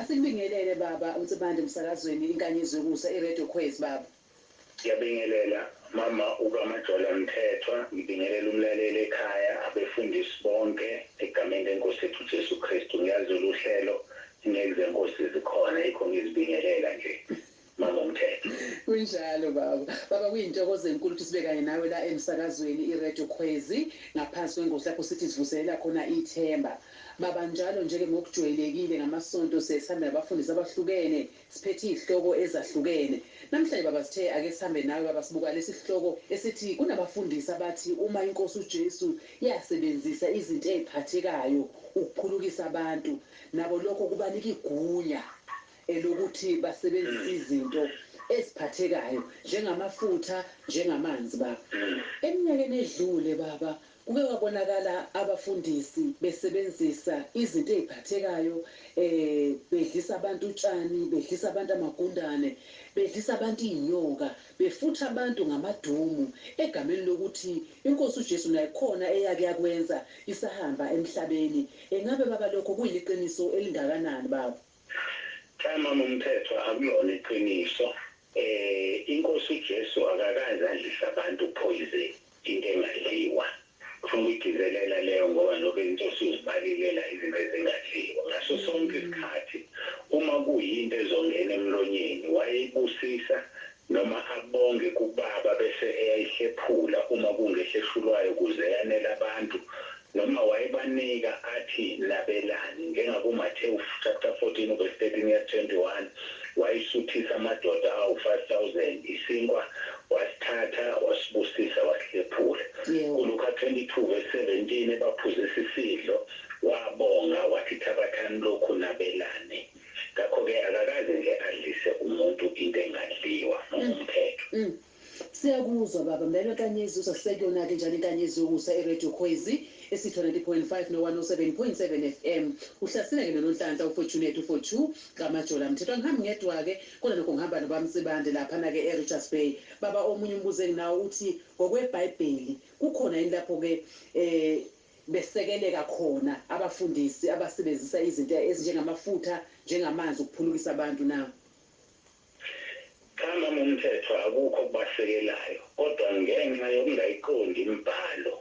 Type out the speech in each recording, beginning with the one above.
Asikubingelele baba uNsibande emsakazweni inkanyezi yokusa iRadio Khwezi baba. Ngiyabingelela mama uka Majola Mthethwa ngibingelela umlaleli ekhaya abefundisi bonke egameni lenkosi yethu Jesu Kristu ngiyazi loluhlelo ngeke zenkosi zikhona yikho ngizibingelela nje. Mama uMthethwa. Kunjalo baba. Baba kuyintokozo enkulu ukuthi sibe kanye nawe la emsakazweni iRadio Khwezi ngaphansi kwengosi lapho sithi sivuselela khona ithemba. Baba njalo nje ke ngokujweyelekile ngamasonto siyaye sihambe nabafundisi abahlukene siphethe izihloko ezahlukene. Namhlanje baba sithe ake sihambe nawe baba sibuka lesi sihloko esithi kunabafundisi abathi uma iNkosi uJesu yasebenzisa izinto eziphathekayo ukuphulukisa abantu nabo lokho kubanika igunya elokuthi basebenzise izinto eziphathekayo njengamafutha njengamanzi baba eminyakeni edlule baba kuke kwabonakala abafundisi besebenzisa izinto eziphathekayo um bedlisa abantu utshani bedlisa abantu amagundane bedlisa abantu izinyoka befutha abantu ngamadumu egameni lokuthi inkosi ujesu nayo khona eyake yakwenza isahamba emhlabeni engabe baba lokho kuyiliqiniso elingakanani baba. Cha mama Mthethwa akulona iqiniso eh inkosi uJesu akakaze adlise abantu poison into engadliwa ufuna ukuyigcizelela leyo ngoba nokho izinto osuzibalile la izinto ezingadliwa ngaso sonke isikhathi uma kuyinto ezongena emlonyeni wayeyibusisa noma abonge kubaba bese eyayihlephula uma kungehla eshulwayo kuze yanele abantu noma wayebanika athi nabelani njengaku Matewu chapter 14 uvesi 13 yesi 21 wayisuthisa amadoda awu 5000 isinkwa wasithatha wasibusisa wasihlephula ku Luka 22 vesi 17 ebaphuzisa isidlo wabonga wathi thabathani lokhu nabelane. Ngakho-ke akakaze nje adlise umuntu into engadliwa noma umthetho. Uhm siyakuzwa baba Mbelwa Nkanyezi uzasiseka kuyonake njani inkanyezi yokusa e Radio Khwezi esitho 90.5 no 107.7 FM uhlasela ke nononhlanhla u Fortunate u Fortu kaMajola Mthethwa angihambi ngedwa ke kona nokho ngihamba no baMsibande laphana ke e Richards Bay baba omunye umbuzo enginawo uthi ngokwe Bhayibheli kukhona yini lapho ke e besekeleka khona abafundisi abasebenzisa izinto ezinjengamafutha njengamanzi ukuphulukisa abantu na? Cha mama umthetho akukho okubasekelayo kodwa ngenxa yokungayiqondi imibhalo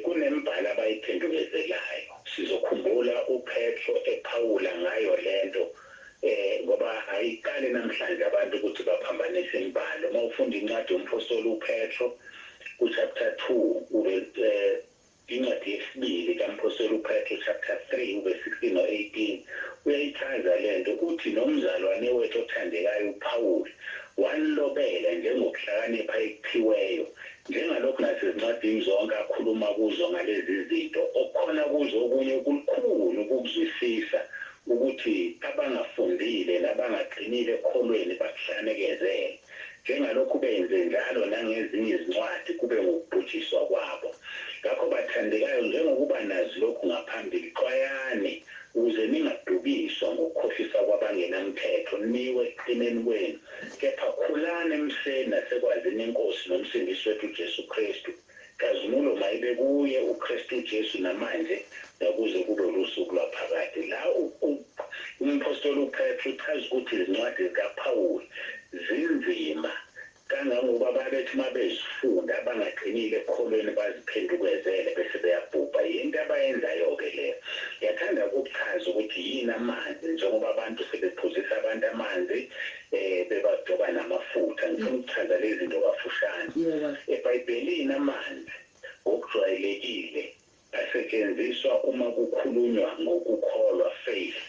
kunembhalo abayiphendukezelayo. Sizokhumbula uPetro ephawula ngayo lento Ngoba ayiqale namhlanje abantu ukuthi baphambanise imibhalo. Uma ufunda incwadi yomphostoli uPetro, kuchapter two, incwadi yesibili kamphostoli uPetro, chapter three, uve sixteen no eighteen, uyayichaza le nto. Uthi nomzalwane wethu othandekayo uPawuli wanilobela njengokuhlakanipha ekuphiweyo Njengalokhu nasezincwadini zonke akhuluma kuzo ngalezi zinto, okukhona kuzo okunye okulukhuni ukukuzwisisa ukuthi abangafundile nabangaqinile ekukholweni bakuhlanekezele, njengalokhu benze njalo nangezinye izincwadi kube ngukubhujiswa kwabo. Ngakho bathandekayo, njengokuba nazi lokhu ngaphambili, xwayani ukuze ningadukiswa ngokukhohlisa kwabangenamthetho, niwe ekuqineni kwenu kepha khulani emfeni nasekwazini iNkosi noMsindisi wethu uJesu Kristu. Nkazimulo mayibe kuye uKristu uJesu namanje nakuze kube ulusuku lwaphakade. La umphostoli uPetru uchaza ukuthi izincwadi zikaPhawuli zinzima kangangoba babethi uma bezifunda abangaqinile ekukholweni baziphendukezele bese beyabhubha. Yinto abayenzayo-ke leyo. Ngiyathanda ukukuchaza ukuthi yini amanzi njengoba abantu sebephuzisa abantu amanzi. bebagcoba namafutha. Ngifuna ukuchaza lezi zinto kafushane. EBhayibhelini amanzi ngokujwayelekile asetshenziswa uma kukhulunywa ngokukholwa, faith,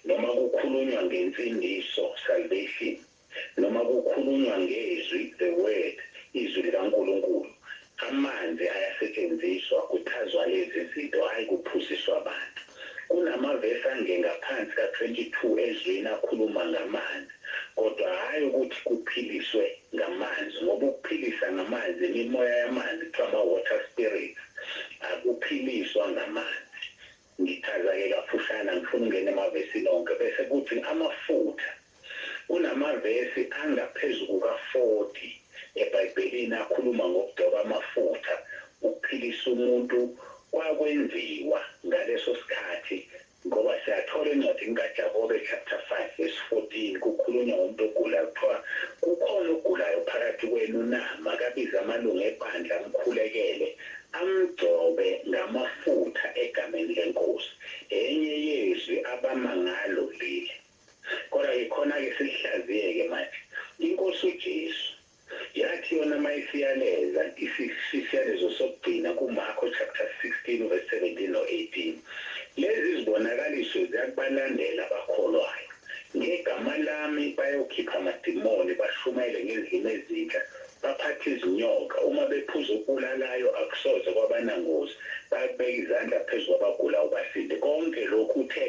noma kukhulunywa ngensindiso, salvation, noma kukhulunywa ngezwi, the word, izwi likaNkulunkulu, Amanzi ayasetshenziswa kuchazwa lezi zinto hhayi kuphuziswa abantu. Kunamavesi angengaphansi ka 22 ezweni akhuluma ngamanzi kodwa hhayi ukuthi kuphiliswe ngamanzi ngoba ukuphilisa ngamanzi imimoya yamanzi kuthiwa ama water spirits akuphiliswa ngamanzi. Ngichaza ke kafushane angifuni ungena emavesini onke bese kuthi amafutha. Kunamavesi angaphezu kuka 40 ebhayibhelini akhuluma ngokugcoba amafutha ukuphilisa umuntu kwakwenziwa ngaleso sikhathi ngoba siyathola encwadini ka Jakobe chapter 5 verse 14 kukhulunywa ngomuntu ogulayo kuthiwa kukhona ogulayo phakathi kwenu na makabize amalunga ebandla amkhulekele Amgcobe ngamafutha egameni leNkosi. Enye yezwi abama ngalo leli. Kodwa-ke khona-ke silihlaziye-ke manje. INkosi uJesu, yathi yona uma isiyaleza isiyalezo sokugcina kuMarko chapter 16 u verse 17 no 18, Lezi zibonakaliso ziyakubalandela abakholwayo, ngegama lami bayokhipha amadimoni, bashumayele ngezilimi ezintsha, Baphatha izinyoka uma bephuza okubulalayo akusoze kwabanangozi, bayakubeka izandla phezu kwabagulayo basinde. Konke lokhu uthe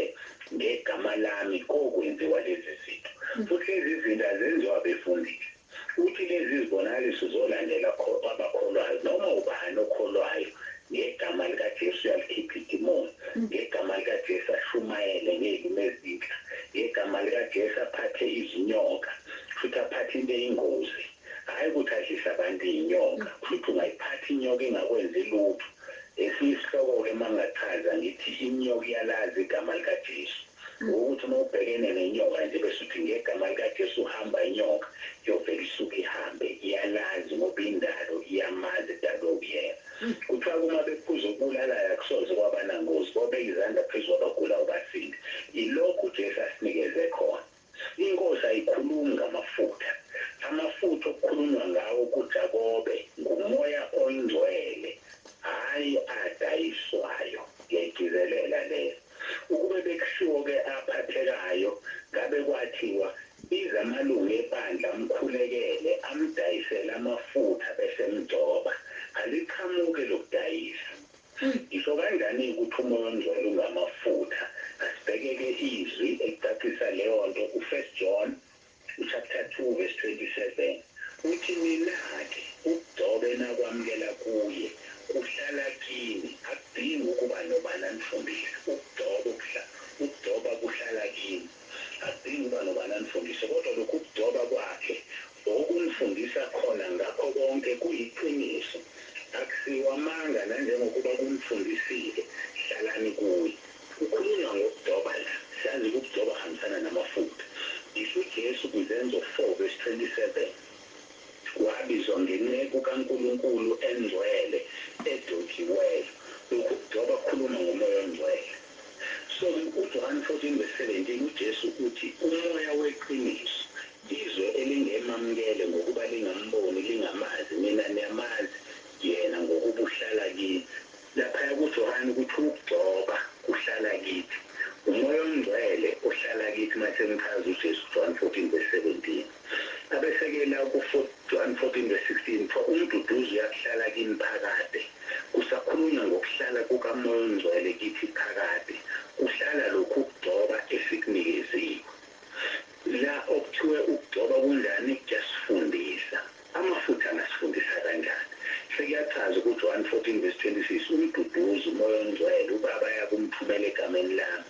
ngegama lami kokwenziwa lezi zinto. Futhi lezi zinto azenziwa befundisi. Uthi lezi zibonakaliso zolandela kwabakholwayo. Noma ubani okholwayo ngegama likaJesu uyalikhipha idimoni, ngegama likaJesu ashumayele ngezimi ezinhla, ngegama likaJesu aphathe izinyoka, Kushuthi aphathe into eyingozi hhayi ukuthi adlise abantu iyinyoka. Kushuthi ungayiphatha inyoka ingakwenzi lutho. Esinye isihloko ke mangingachaza ngithi inyoka iyalazi igama lika Jesu. Ngokuthi uma ubhekene nenyoka nje bese uthi ngegama lika Jesu hamba inyoka iyovele isuke ihambe. Iyalazi ngoba indalo iyamazi edalwe uyena. Kuthiwa ke uma bephuza okubulalaya akusoze kwabanangozi bobe izandla phezu kwabagulayo basinde. Ilokhu uJesu asinikeze khona. Inkosi ayikhulumi ngamafutha. Amafutha okukhulunywa ngawo kuJakobe nguMoya oyiNgcwele, hhayi adayiswayo. Ngiyayigcizelela leyo. Ukube bekushiwo ke aphathekayo, ngabe kwathiwa, Ize amalungu ebandla amkhulekele, amdayisele amafutha bese emgcoba. Aliqhamuki elokudayisa. Ngisho kanjani ukuthi uMoya oNgcwele ungamafutha? Asibheke ke izwi elicacisa leyo nto ku-First John chapter 2 verse 27. Uthi, Mina-ke, ukugcobe nakwamukela kuye, kuhlala kini, akudingi ukuba nobani anifundise. Ukugcoba, ukuhla, ukugcoba kuhlala kini. Akudingi ukuba nobani anifundise, kodwa lokhu ukugcoba kwakhe Okungifundisa khona ngakho konke kuyiqiniso, akusiwo amanga nanjengokuba kungifundisile, hlalani kuye. Kukhulunywa ngokudoba la, sazi ukudoba kuhambisana namafutha. Ngisho uJesu kwiZenzo 4 vesi 27 wabizwa ngenceku kaNkulunkulu engcwele edojiweyo. Lokhu kudoba kukhuluma ngoMoya oNgcwele. Sono, uJohane 14 vs 17, uJesu uthi uMoya weqiniso, izwe elingemamukele ngokuba lingamboni, lingamazi, nina niyamazi Yena ngokuba uhlala kithi. Laphaya kuJohane kuthiwa ukugcoba kuhlala kithi. UMoya oNgcwele ohlala kithi uma senichaza uJesu, John 14 vs 17. Abesekela ku 4114 vs 16 for uMduduzi uyakuhlala kimi phakade kusakhulunywa ngokuhlala kuka Moya ongcwele kithi phakade kuhlala lokhu ukugcoba esiknikeziwe la okuthiwe ukugcoba kunjani kuyasifundisa amafutha angasifundisa kanjani sekuyachaza ku Joan 14 vs 26 uMduduzi uMoya ongcwele ubaba ayakumthumela egameni lami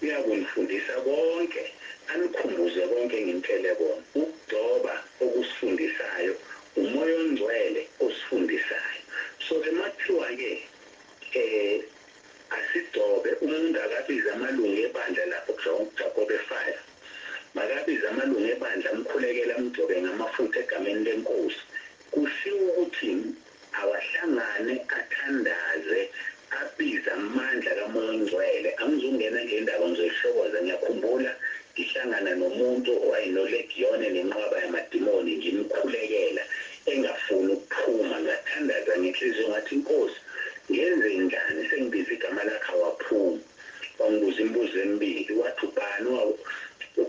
Uyakunifundisa konke, anikhumbuze konke enginitshele kona. Ukugcoba okusifundisayo, nguMoya oNgcwele osifundisayo. So ke makuthiwa ke asigcobe, umuntu akabize amalungu ebandla lapho kuJakobe five, makabize amalungu ebandla amkhulekele amgcobe ngamafutha egameni leNkosi. Kushiwo ukuthini? Awahlangane athandaze abize amandla kaMoya oNgcwele. Angizungena nje indaba ngizoyihlokoza. Ngiyakhumbula ngihlangana nomuntu owayenolegiyone nenqwaba yamadimoni ngimkhulekela engafuni ukuphuma. Ngathandaza ngenhliziyo ngathi, Nkosi, ngenzenjani? Sengibize igama lakho awaphumi. Wangibuza imibuzo emibili, wathi, Ubani owaku.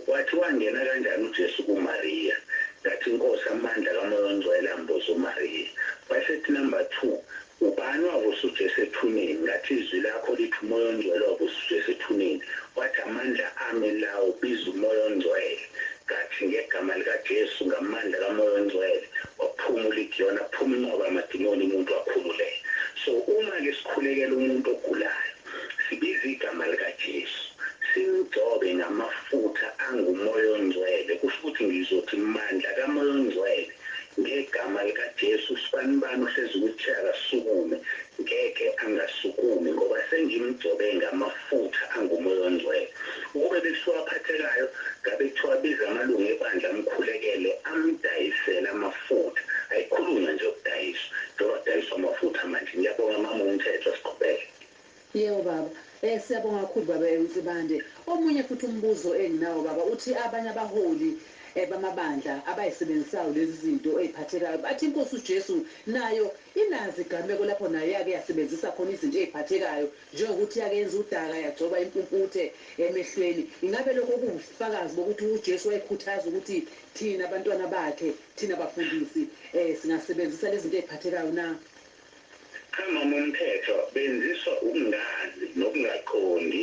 Wathi, Wangena kanjani uJesu kuMariya? Ngathi, Nkosi, amandla kaMoya oNgcwele amboze uMariya. Wayesethi, Number two, Ubani owavusa uJesu ethuneni? Ngathi, Izwi lakho lithi uMoya oNgcwele wavusa uJesu ethuneni. Wathi, Amandla ami lawo, biza uMoya oNgcwele. Ngathi, NgeGama likaJesu, ngamandla kaMoya oNgcwele, waphuma uLigiyoni, aphuma inqwaba yamadimoni, umuntu wakhululeka. So, uma-ke sikhulekela umuntu ogulayo. Sibize igama likaJesu, simgcobe ngamafutha anguMoya oNgcwele, kusho ukuthi ngizothi, Mandla kaMoya oNgcwele, ngegama likaJesu, usibanibani ohlezi kwi-chair akasukume, ngeke angasukumi, ngoba sengimgcobe ngamafutha anguMoya oNgcwele. Ukube bekuthiwa aphathekayo, ngabe kuthiwa abize amalungu ebandla amkhulekele, amdayisele amafutha. Ayikhulunywa nje yokudayiswa, njengoba kudayiswa amafutha manje. Ngiyabonga, Mama uMthethwa. Siqhubeke. Yebo baba. Eh siyabonga kakhulu baba eh Nsibande. Omunye futhi umbuzo enginawo baba uthi abanye abaholi eh bamabandla abayisebenzisayo lezizinto eyiphathekayo bathi iNkosi uJesu nayo inazo igameko lapho nayo yake yasebenzisa khona izinto eyiphathekayo njengokuthi yake yenza udaka yagcoba impumputhe emehlweni ingabe lokho kuwubufakazi bokuthi uJesu wayekhuthaza ukuthi thina bantwana bakhe thina bafundisi eh singasebenzisa lezinto eyiphathekayo na? Cha mama umthetho benziswa ukungazi nokungaqondi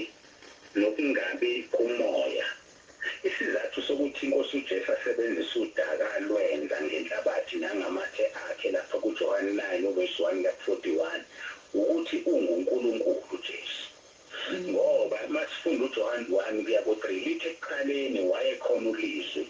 nokungabi kumoya isizathu sokuthi inkosi uJesu asebenzise udaka alwenza ngenhlabathi nangamathe akhe lapha kuJohane 9 uvesi 1 kuya ku 41 wukuthi ungu Nkulunkulu uJesu ngoba masifunda uJohane 1 kuya ku 3 lithi ekuqaleni wayekhona ulizwi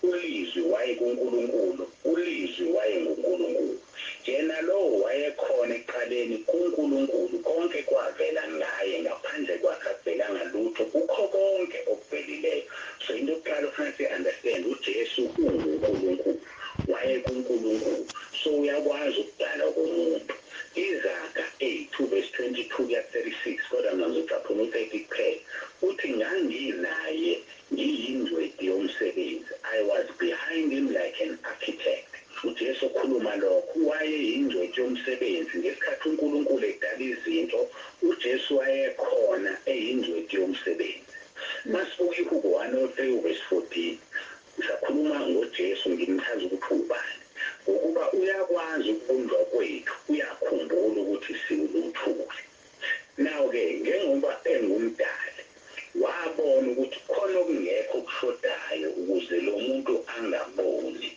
ULizwi wayekuNkulunkulu, uLizwi wayenguNkulunkulu. Yena lowo wayekhona ekuqaleni, kuNkulunkulu, konke kwavela ngaYe, ngaphandle kwaKhe akuvelanga lutho, kukho konke okuvelileyo. So, into yokuqala okufuneka siyi understand, uJesu unguNkulunkulu. WayekuNkulunkulu. So, Uyakwazi ukudala okomuntu. Izaga a two verse twenty two kuya ku thirty six, kodwa mina ngizocaphuna u thirty kuphela. Uthi, Ngangi naYe. Ngiyingcweti yomsebenzi, I was behind him like an architect. UJesu ukhuluma lokho, wayeyingcweti yomsebenzi. Ngesikhathi uNkulunkulu edala izinto, uJesu wayekhona, eyingcweti yomsebenzi. Masibuke iHubo 103 uvesi 14. Ngisakhuluma ngoJesu, ngimchaza ukuthi uwubani. Ngokuba uyakwazi ukubunjwa kwethu, uyakhumbula ukuthi siwuluthuli. Now ke njengoba enguMdali wabona ukuthi khona okungekho okushodayo ukuze lomuntu angaboni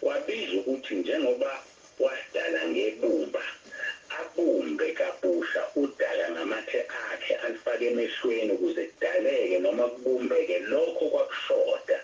wabiza ukuthi njengoba wasidala ngebumba abumbe kabusha udaka ngamathe akhe alufake emehlweni ukuze kudaleke noma kubumbeke lokho okwakushoda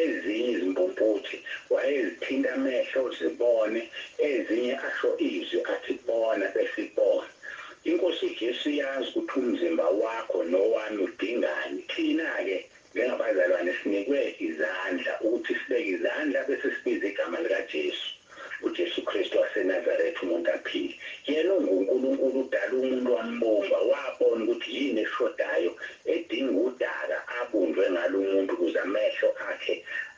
Ezinye izimpumputhe wayezithinta amehlo zibone, ezinye asho izwi athi bona bese ibona. INkosi uJesu iyazi ukuthi umzimba wakho nowami udingani. Thina-ke njengabazalwane sinikwe izandla ukuthi sibeke izandla bese sibiza igama likaJesu. UJesu Kristu waseNazaretha, umuntu aphile. Yena unguNkulunkulu, udale umuntu wambumba, wabona ukuthi yini eshodayo, edinga udaka abunjwe ngalo umuntu ukuze amehlo akhe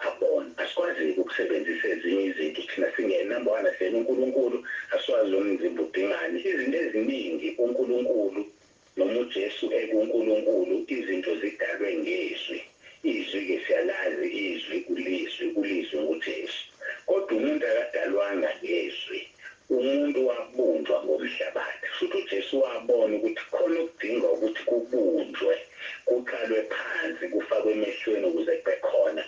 abone. Asikwazi-ke ukusebenzisa ezinye izinto thina singene. Number one, asiyena uNkulunkulu, asiwazi nomzimba udingani. Izinto eziningi uNkulunkulu. Noma uJesu ekuNkulunkulu, izinto zidalwe ngeZwi. IZwi-ke siyalazi, iZwi, uLizwi, uLizwi nguJesu. Kodwa umuntu akadalwanga ngeZwi. Umuntu wabunjwa ngomhlabathi. Futhi uJesu wabona ukuthi kukhona okudinga ukuthi kubunjwe, kuqalwe phansi, kufakwe emehlweni ukuze kubekhona,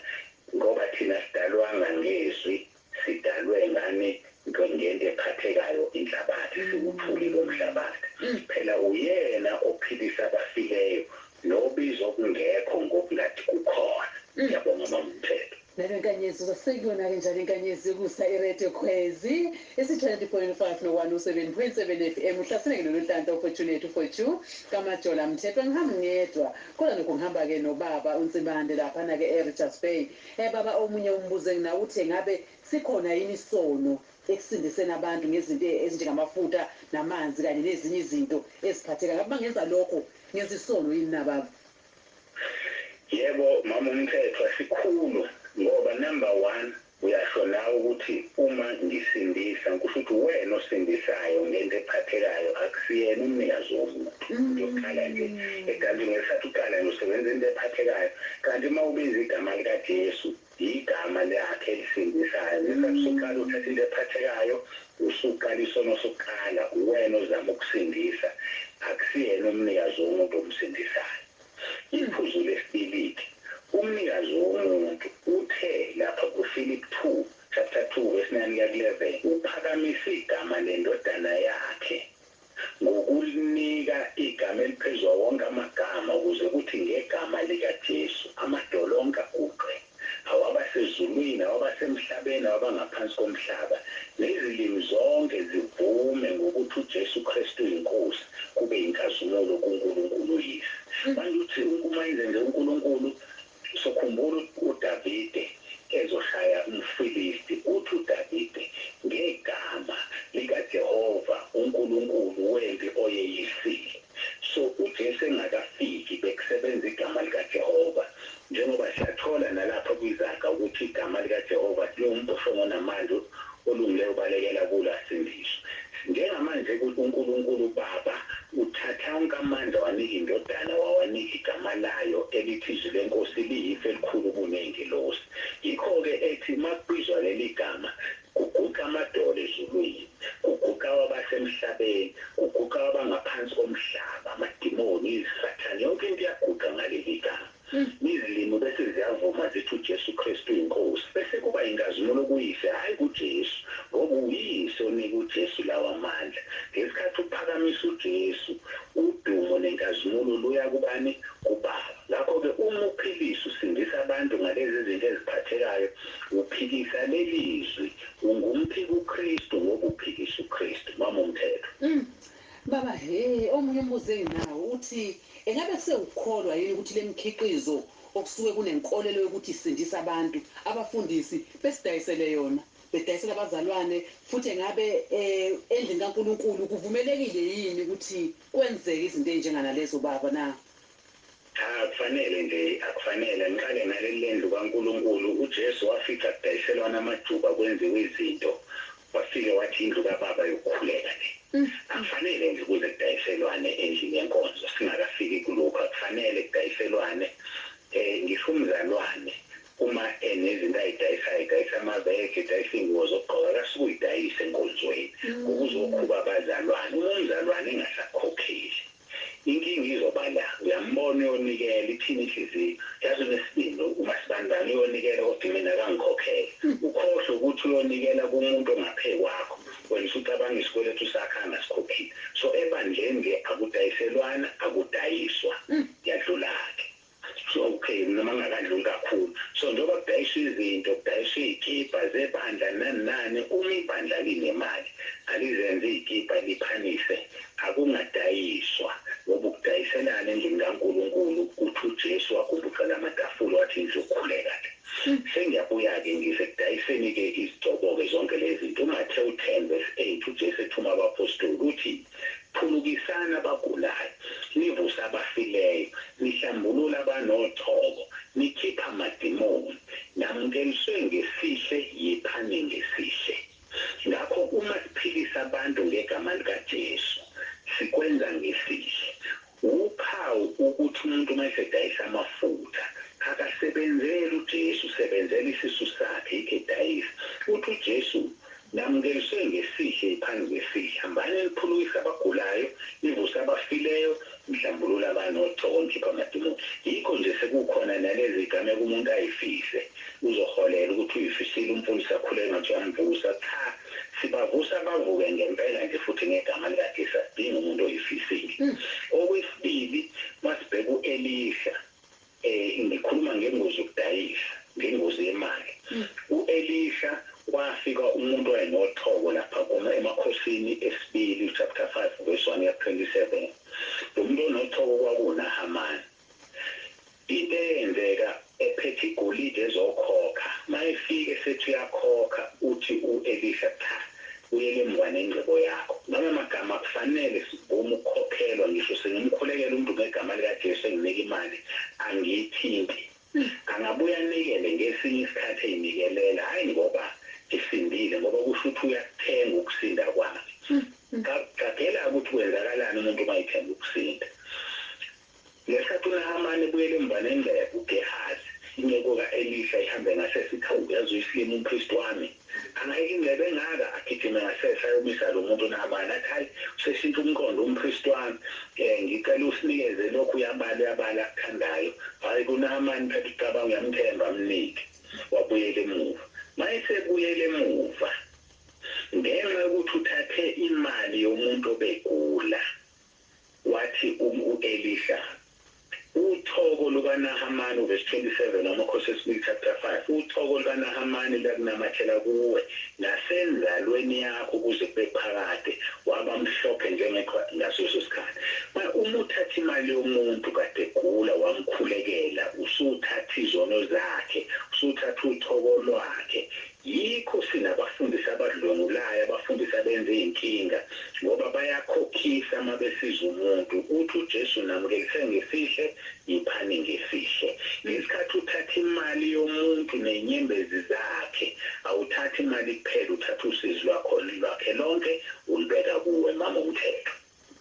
ngoba thina asidalwanga ngeZwi, Sidalwe ngani nto ngento ephathekayo inhlabathi siwuthuli lomhlabathi phela uyena ophilisa abafileyo nobiza okungekho ngokungathi kukhona Siyabonga mama Mthethwa. Nalo inkanyezi uzosekuyona ke njalo inkanyezi yokusa iRadio Khwezi isi 20.5 no 107.7 FM uhlasene ke noNonhlanhla uFortunate uFortu kaMajola Mthethwa ngihamba ngedwa kodwa nokho ngihamba ke nobaba uNsibande laphana ke eRichards Bay Hhe baba omunye umbuzo enginawo uthi engabe sikhona yini isono ekusindiseni abantu ngezinto ezinjengamafuta namanzi kanye nezinye izinto eziphathekayo ngabe mangenza lokho ngenza isono yini na baba. Yebo mama umthethwa sikhulu ngoba number one uyasho nawe ukuthi uma ngisindisa kusho ukuthi uwena osindisayo ngento ephathekayo akusiyena umnikazi womntu. Umuntu okhala nje egambi ngesathi uqala nje usebenza into ephathekayo kanti uma ubiza igama lika Jesu yigama lakhe elisindisayo ngesathi usuqala uthatha into ephathekayo usuqala isono sokuqala uwena ozama ukusindisa akusiyena umnikazi womuntu omsindisayo iphuzu lesibiliki umnikazi womuntu uthe lapha ku Philip 2 chapter 2 verse 9 kuya ku 11 uphakamise igama lendodana yakhe ngokulinika igama eliphezu kwawo wonke amagama, ukuze kuthi ngegama likaJesu amadolo onke aguqe, awabasezulwini, awabasemhlabeni, awabangaphansi komhlaba, nezilimi zonke zivume ngokuthi uJesu Kristu uyiNkosi, kube yinkazimulo kuNkulunkulu uYise. Manje uthi, Unkuma enzenze uNkulunkulu, Usukhumbula ukuthi uDavide ezoshaya umFilisti, uthi uDavide, Ngegama likaJehova uNkulunkulu wempi oyeyisile. So, uJesu engakafiki, bekusebenza igama likaJehova. Njengoba siyathola nalapha kwizaga ukuthi igama likaJehova liwumboshongo namanje, Olungileyo ubalekela kulo asindiswe. Njengamanje ku, uNkulunkulu uBaba uthatha onke amandla wanika iNdodana, wawanika iGama laYo, elithi iZwi leNkosi liyifu elikhulu kuneyingilosi. Yikho-ke Ethi, uma kubizwa leliGama, kuguqa amadolo eZulwini, kuguqa kwabasemhlabeni, kuguqa kwabangaphansi komhlaba, amadimoni, izisathane, yonke into iyaguqa ngaleliGama. Izilimi bese ziyavuma zithi uJesu Kristu uyiNkosi, bese kuba yinkazimulo kuYise, hhayi kuJesu, ngoba uyiYise onike uJesu lawa mandla. Ngesikhathi uphakamisa uJesu, udumo nenkazimulo luya kubani? KuBaba. Ngakho-ke uma uphilisa, usindisa abantu ngalezi zinto eziphathekayo, uphikisa leli Zwi. Ungumphiki uKristu ngoba uphikisa uKristu. Mama uMthethwa. Baba, Hhe, omunye umbuzo enginawo uthi engabe sewukholwa yini ukuthi lemikhiqizo okusuke kunenkolelo yokuthi isindisa abantu, abafundisi besidayisele yona, bedayisela abazalwane, futhi engabe e, endlini kaNkulunkulu kuvumelekile yini ukuthi kwenzeke izinto ezinjenganalezo, Baba na? Cha akufanele nje akufanele angiqale ngaleli lendlu kaNkulunkulu uJesu wafica kudayiselwana amajuba kwenziwe izinto wafike wathi indlu kababa yokukhuleka le akufanele nje kuze kudayiselwane endlini yenkonzo singakafiki kulokhu akufanele kudayiselwane um ngisho umzalwane uma enezinto ayidayisayo edayisa amavege edayisa iyngubo zokugqoka akasuke uyidayise enkonzweni ngoba uzokhuba abazalwane uma umzalwane engasakukhokheli Inkinga izoba la uyambona uyonikela ithini inhliziyo yazi unesibindi umasibanibani uyonikela kodwa mina akangikhokhele ukhohlwe ukuthi uyonikela kumuntu ongaphe kwakho wena usucabanga isikweletu sakhe angasikhokhile so ebandleni nje akudayiselwana akudayiswa yadlulake. It's okay noma ngingakadluli kakhulu. So njengoba kudayiswa izinto, kudayiswa izikibha zebandla nani nani, uma ibandla linemali alizenze izikibha liphanise akungadayiswa ngoba ukudayiselana endlini kaNkulunkulu uthi uJesu wagumbuzela amatafula wathi nizokhuleka ke. Sengiyabuya ke ngize kudayiseni ke izigcoboke zonke lezinto. UMathewu 10 verse 8 uJesu ethuma abaphostoli uthi. Phulukisani abagulayo, nivuse abafileyo, nihlambulula abanochoko, nikhipha amadimoni. Namukeliswe ngesihle, yiphani ngesihle. Ngakho uma siphilisa abantu ngegama likaJesu, sikwenza ngesihle. Wuphawu ukuthi umuntu uma esedayisa amafutha akasebenzeli uJesu, usebenzela isisu sakhe, yikho edayisa. Uthi uJesu, Namukeliswe ngesihle yiphani ngesihle, hambani niphulukise abagulayo, nivuse abafileyo, nihlambulule abanotho, nikhiphe amadimoni. Yikho nje sekukhona nalezi zigameko umuntu ayifihle, uzoholela ukuthi uyifisile umfundisi akhuleke ngathi uyamvusa. Cha! Sibavusa bavuke ngempela nje futhi ngegama likaJesu asidingi umuntu oyifisiki. Okwesibili masibheka uElisha ngikhuluma ngengozi yokudayisa ngengozi yemali. UElisha kwafika umuntu owayenothobo lapha kuma emakhosini esibili chapter 5 verse 1 kuya ku 27. Lomuntu onothobo kwakuwu Nahamani. Into eyenzeka ephethe igolide ezokhokha mayefika esethi uyakhokha uthi u Elisha cha buyela emuva nengcebo yakho noma magama akufanele sivume ukukhokhelwa ngisho sengimkhulekela umntu ngegama lika Jesu enginika imali angiyithinti angabuye anikele ngesinye isikhathi eyinikelela hayi ngoba esindile ngoba kusho ukuthi uyakuthenga ukusinda kwakhe qaphelake ukuthi kwenzakalani umuntu uma ethenge ukusinda Ngesikhathi uNahamani ebuyela emuva nengcebo, uGehazi, inceku ka-Elisha, ihambe ngasese, ithi, Hawu, yazi uyisilima umpristi wami. Angayeke ingcebo engaka? Agijime ngasese ayomisa lo muntu uNahamani, athi, Hhayi, useshintshe umqondo umpristi wami. Ngicela usinikeze lokhu, uyabala, uyabala, akuthandayo. Hhayi, kuNahamani, phetha ucabange, uyamthemba, mnike. Wabuyela emuva. Uma esebuyela emuva, ngenxa yokuthi uthathe imali yomuntu obegula, Wathi um u-Elisha, Uthoko lukaNahamani, uVesi 27 wamaKhosi wesibili chapter 5, Uthoko lukaNahamani luyakunamathela kuwe nasenzalweni yakho kuze kube phakade, waba mhlophe njengeqhwa ngaleso sikhathi. Manje, uma uthatha imali yomuntu kade egula wamkhulekela, usuwuthatha izono zakhe, usuwuthatha uthoko lwakhe. Yikho sinabafundisi abadlwengulayo abafundisi abenza izinkinga ngoba bayakhokhisa uma besiza umuntu uthi uJesu namukelise ngesihle ngiphani ngesihle ngesikhathi uthatha imali yomuntu nezinyembezi zakhe awuthathi imali kuphela uthatha usizi lwakhe lonke ulubeka kuwe mama umthetho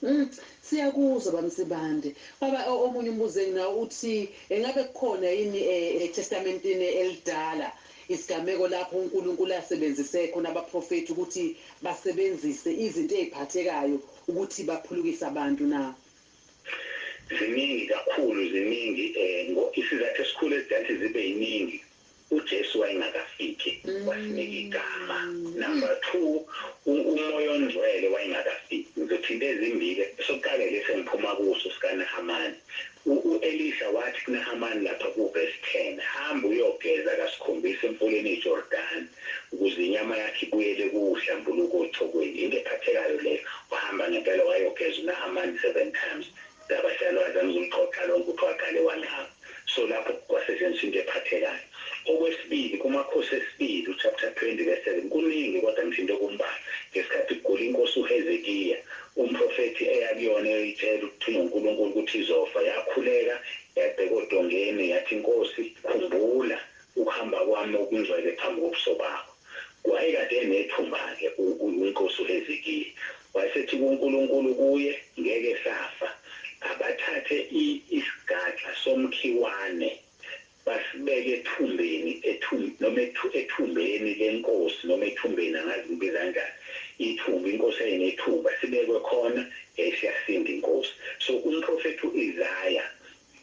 Uhm siyakuzwa baMsibande. Baba omunye umbuzo enginawo uthi engabe kukhona yini e Testamentini elidala isigameko lapho uNkulunkulu asebenzise khona abaprofethi ukuthi basebenzise izinto eziphathekayo ukuthi baphulukise abantu na? Ziningi kakhulu ziningi ngo isizathu esikhulu ezidathi zibe yiningi. uJesu wayengakafiki wasinika igama number two umoya ongcwele wayengakafiki ngizothinta ezimbili esokuqala ilesi engiphuma kuso sikaNahamani uElisha wathi kuNahamani lapha kuverse ten hamba uyogeza kasikhombisa emfuleni iJordani ukuze inyama yakho ibuyele kuwe uhlambuluke othokweni into ephathekayo leyo wahamba ngempela wayogeza uNahamani seven times Ndaba siyalo azame ukulixoxa lonke uthi waqale wangaba so lapho kwasetshenziswa into ephathekayo okwesibili kumakhosi esibili uchapter 20 verse 7 kuningi kodwa ngithinte okumbalwa ngesikhathi kugula inkosi uHezekiya umprofethi eya kuyona eyoyitshela ukuthunywa uNkulunkulu ukuthi izofa yakhuleka yabheka odongeni yathi Nkosi khumbula ukuhamba kwami okungcwele phambi kobuso bakho. Wayekade enethumba-ke u, u, uNkosi uHezekiya. Wayesethi kuNkulunkulu, kuye, Ngeke safa. Abathathe i, isigaxa somkhiwane, basibeke ethumbeni, ethumb, noma ethu, ethumbeni lenkosi, noma ethumbeni, angazi ngibiza kanjani, ithumba, inkosi yayinethumba, sibekwe khona, yayisiyasinda inkosi. So, umprofethi uIsaya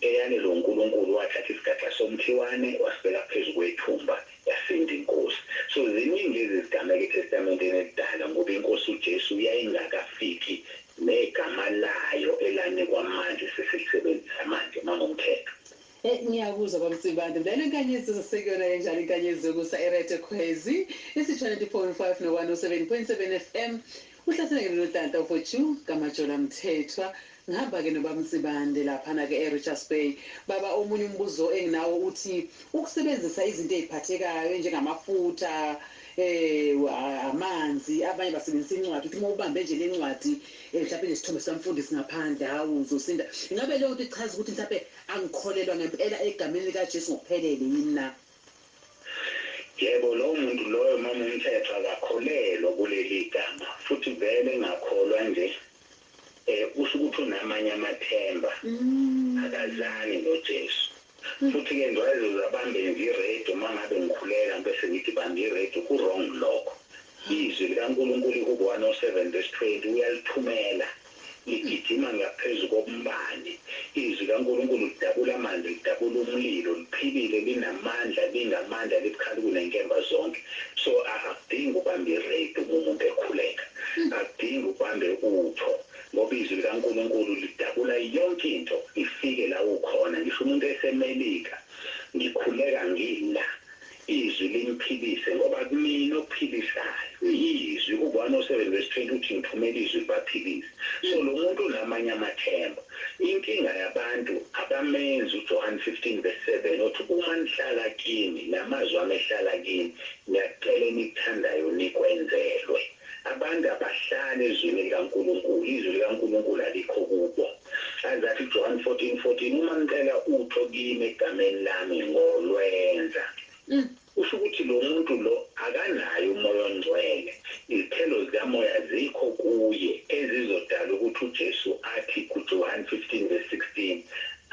Eyani lo Nkulunkulu wathatha isigaxa somkhiwane wasibeka phezu kwethumba yasinda inkosi so ziningi lezi zigameko eTestamenteni elidala ngoba inkosi uJesu yayingakafiki negama layo elanikwa manje sesilisebenzisa manje mama uMthethwa. Ey ngiyakuzwa baMsibande vele inkanyezi izosekuyona kanjani inkanyezi yokusa iRetekhwezi isi 24.5 no 107.7 FM. Uhlasele ke lona tata for chu kaMajola Mthethwa ngihamba ke noBab'Nsibande laphana ke eRichards Bay baba omunye umbuzo enginawo uthi ukusebenzisa izinto eziphathekayo enjengamafutha eh amanzi abanye basebenzisa incwadi uthi uma ubambe nje lencwadi eh mhlampe nesithombe sikamfundisi ngaphandle hawu uzosinda ingabe leyonto ichaza ukuthi mhlampe angikholelwa ngempela egameni likaJesu ngokuphelele yini na. Yebo, lowo muntu loyo, mama uMthethwa, akakholelwa kuleli igama, futhi vele engakholwa nje, e, usho ukuthi unamanye amathemba, akazani noJesu. Futhi-ke nje wayezoze abambe nje iredio uma ngabe ngikhuleka, ngibese ngithi, Bamba iredio, ku-wrong lokho. IZwi likaNkulunkulu, iHubo 107 vesi 20, Uyalithumela. Ligijima ngaphezu kombani. IZwi likaNkulunkulu lidabula amanzi, lidabula umlilo, liphilile, linamandla, lingamandla, libukhali kunenkemba zonke. So, a, akudingi ubambe ireydi uma umuntu ekhuleka. Akudingi ubambe utho, ngoba iZwi likaNkulunkulu lidabula yonke into, ifike la ukhona. Ngisho umuntu eseMelika, ngikhuleka ngila. Izwi lingiphilise, ngoba kumina okuphilisayo yiZwi. U-1 or 7 verse 20 uthi, Ngithumele iZwi libaphilise. So, lo muntu unamanye amathemba. Inkinga yabantu, abamenzi uJohane 15 verse 7, othi, Uma nihlala kiMi, namazwi aMi ehlala kini, niyakucela enikuthandayo, nikwenzelwe. Abantu abahlali eZwini likaNkulunkulu, iZwi likaNkulunkulu alikho kubo. Aze athi uJohane 14, 14, Uma nicela utho kiMi eGameni laMi, ngoLwenza. Kusho ukuthi lomuntu lo akanaye uMoya oNgcwele. Izithelo zikaMoya azikho kuye, ezizodala ukuthi uJesu athi kuJohane 15 verse 16,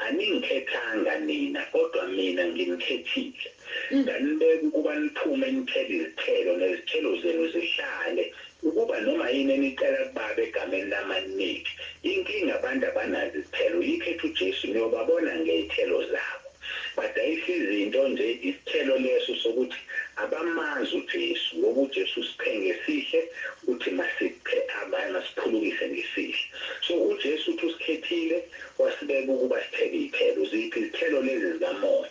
AniNgikhethanga nina, kodwa Mina ngiNikhethile. Nginganibeka ukuba niphume nithele izithelo, nezithelo zenu zihlale, ukuba noma yini enicela kuBaba egameni lami aninike. Inkinga abantu abanazo izithelo, yikho ethi uJesu niyobabona ngey'thelo zabo. Badayisa izinto nje, isithelo leso sokuthi abamazi uJesu, ngoba uJesu usiphe ngesihle, uthi masiphe abanye, masiphulukise ngesihle. So uJesu uthi usikhethile, wasibeka ukuba sithele iy'thelo. Ziphi izithelo lezi zikamoya?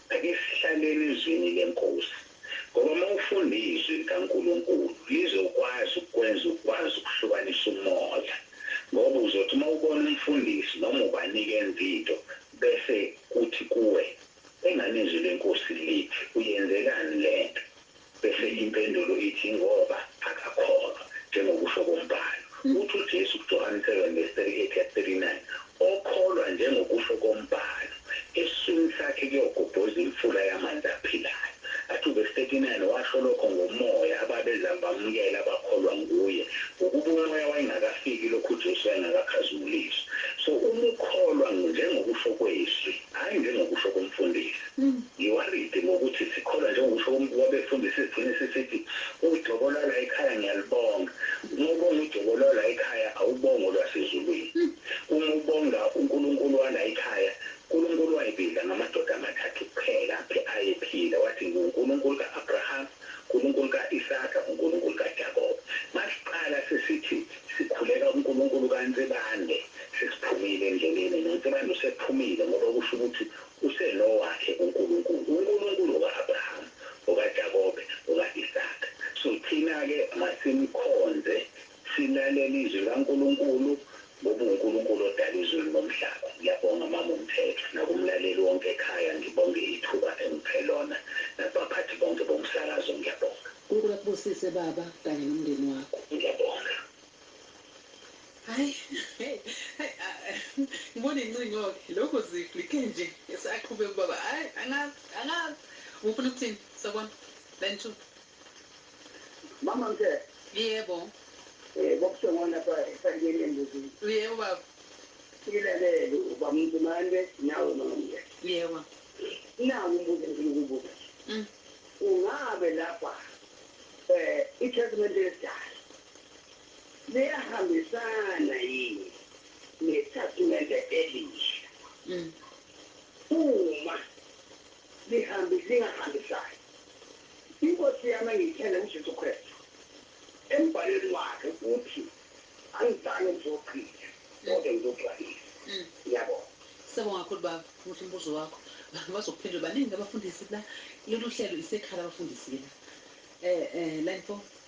Ake sihlaleni eZwini leNkosi, ngoba uma ufunda iZwi likaNkulunkulu, Lizokwazi ukukwenza ukwazi ukuhlukanisa umoya. Ngoba uzothi uma ubona umfundisi noma ubani-ke enza into, bese Kuthi kuwe, Engani iZwi leNkosi lithi, Uyenzekani le nto? Bese impendulo ithi, Ngoba akakholwa, njengokusho komBhalo. Uthi uJesu kuJohane 7 vesi 38 yaku 39, Okholwa njengokusho komBhalo, esiswini sakhe kuyogobhoza imfula yamanzi aphilayo. Athi uvesi 39 washo lokho ngoMoya, ababezama bamukela, abakholwa nguye, ngokuba uMoya wayengakafiki lokhu uJesu wayengakakhazimuliswa. So, uma ukholwa, njengokusho kweZwi, hhayi njengokusho komfundisi. Ngiworried ngokuthi sikholwa njengoba usho umuntu wabefundisi sigcine sisithi ujobo lwala ekhaya ngiyalubonga uma ubonga ujobo lwala ekhaya awubongi olwasezulwini uma ubonga unkulunkulu wala ekhaya nkulunkulu wayibiza ngamadoda amathathu kuphela aphi ayephila wathi ngiwunkulunkulu ka Abraham nkulunkulu ka Isaka ngunkulunkulu ka Jakob masiqala sesithi sikhuleka unkulunkulu ka Nsibande sesiphumile endleleni no Nsibande usephumile ngoba kusho ukuthi Usenowakhe uNkulunkulu, uNkulunkulu uka-Abrahama, ukaJakobe, uka-Isaka. So thina-ke masimkhonze, silalele iZwi likaNkulunkulu, ngoba uNkulunkulu odale izulu nomhlaba. Ngiyabonga Mama uMthethwa, nakumlaleli wonke ekhaya, ngibonge ithuba engiphe lona, nakubaphathi bonke bomsakazo, ngiyabonga. UNkulu akubusise Baba kanye nomndeni wakho. Ngiyabonga. Hay hay hay ngibona incingoke lokhu zifli kenje esaqhubeka ubaba hay angazi angazi ufuna ukuthini sabona line 2 Mama mthe. Yebo. Eh bokusewona pha esayineni embuzini. Yebo baba. Ngilalele uba mntumande nawe mama mthe. Yebo. Nawu umbuzo engifuna ukubuza nje. Mm. Ungabe lapha eh iTestament elidala liyahambisana yini neThastimende Elisha? Uma lihambi, lingahambisani, iNkosi yami engiyithanda, uJesu Kristu, embhalweni waKhe, uthi, Angizange ngizogqila, kodwa ngizogcwalisa. Niyabona? Siyabonga kakhulu, Baba. Muhle umbuzo wakho. Bazokuphendula. Baningi abafundisi la. Lolu hlelo isekhala abafundisi ke la. Eh, eh, line four.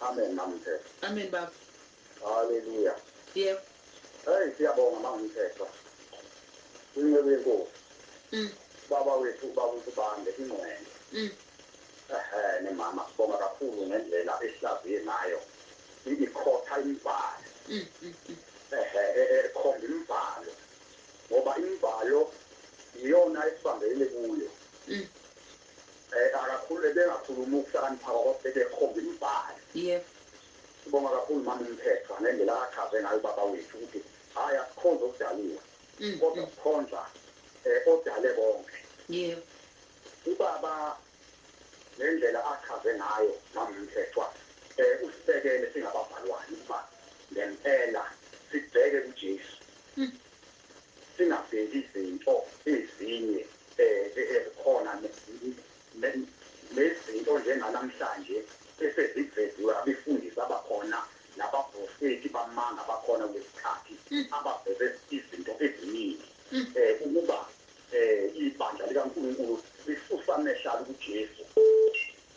Amen mamthethwa. Amen baba. Hallelujah. Yebo. Hey siyabonga mamthethwa. Inceku yenkosi. Mm. Baba wethu baba uSibande ingqwele. Mm. Ehhe nemama sibonga kakhulu ngendlela esihlaziye ngayo ikhotha imibhalo. Mm. mm, mm. Ehhe e, e, ekhomba imibhalo ngoba imibhalo iyona esibambelele kuyo. Mm. Eh akakhulu ebengakhuluma ukuhlakanipha kwakho ebekhomba imibhalo. Yebo. Sibonga kakhulu mama uMthethwa ngendlela akachaze ngayo ubaba wethu ukuthi hayi asikhonzi okudaliwe kodwa sikhonza eh odale konke. Yebo. Ubaba ngendlela achaze ngayo mama uMthethwa eh usibekele singabazalwane ukuba ngempela sibheke kuJesu. singabheki izinto ezinye ezikhona nezinto njenganamhlanje eseziveziwe abefundisi abakhona nabaprofethi bamanga abakhona kulesikhathi abaveze izinto eziningi ukuba ibandla likaNkulunkulu lisusa amehlo alo kuJesu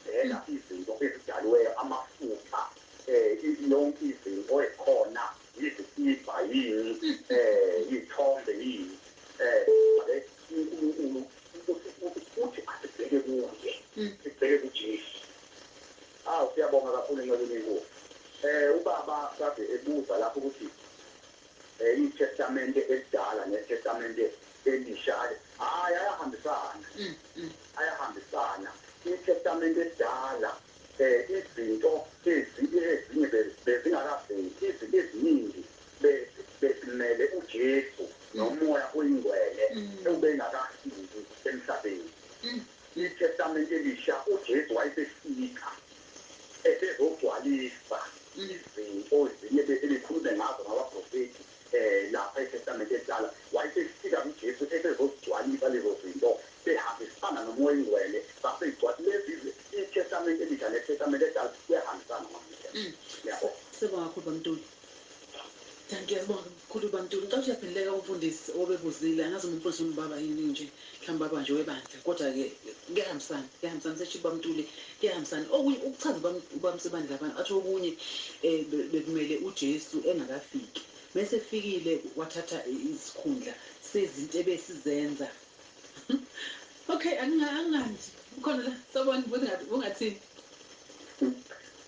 bheka izinto ezidaliweyo amafutha yonke izinto ezikhona yizikibha yini um iy'thombe yini um abe unkulunkulu uthi asibheke kuye mm. sibheke kujesu awu siyabonga kakhulu nceku nenkosi um ubaba kade ebuza lapho ukuthi um itestamente elidala netestamente elisha hhayi ayahambisana mm, mm. ayahambisana itestamente elidala izinto ezinye ezinye be, bezingakaveli, izinto eziningi be, bezimele uJesu noMoya oyiNgwele obengakafiki emhlabeni. ITestamente Elisha, uJesu wayesefika esezogcwalisa izinto ezinye ebese bekhulume ngazo ngabaprofethi. Lapha eTestamente eliDala, wayesesika uJesu esezozigcwalisa lezo zinto, behambisana noMoya oyiNgcwele, zase igcwal. Lezi zi, iTestamente eliDsha neTestamente eliDala kuyahambisana namuhla. Niyabo? Siyabonga kakhulu baMtuli. Dankie. Sibonge kakhulu baMtuli. Ngicela ukuthi uyaphenduleka umfundisi obebuzile, angazi noma umfundisi ungubaba yini nje. Mhlawumbe abanjwe webandla kodwa ke kuyahambisana kuyahambisana seshithi bamtule kuyahambisana okunye ukuchaza ubam, ubamsebandla abantu athi okunye eh, be- bekumele uJesu engakafiki mese fikile wathatha i- isikhundla sezinto ebesizenza okay anginga angandi ukhona la sawubona bungathi bungathini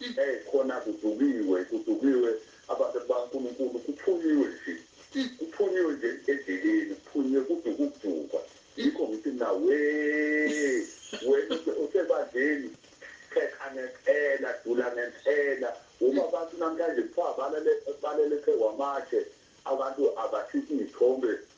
Eyi khona kudukiwe kudukiwe abantu bakaNkulunkulu kuphunyiwe nje kuphunyiwe nje endleleni kuphunyiwe kuduke ukudukwa yikho ngithi mina wee wena ose- osebandleni pheka ngempela dula ngempela uma abantu namhlanje kuthiwa balale balele phezu kwamatshe abantu abathinte izithombe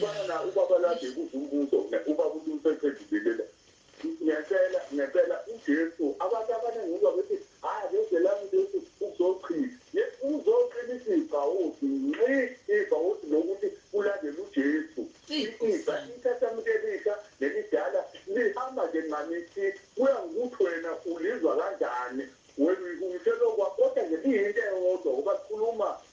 Fana na ubaba lwakhe ebuza umbuzo ne ubaba uthi usephendulilile ngecela ngecela uJesu abantu abaningi uzwa bethi hayi akezelani uJesu uzochitha ye uzoqina ithi ibhawodi nxi ibhawodi lokuthi ulandele uJesu Eyi i ifa nkosiyami. ithatha muntu elisha nelidala lihamba nje nxani i kuya ngokuthi wena ulizwa kanjani wena uyihunyushela okwa kodwa nje liyinto eyodwa ngoba likhuluma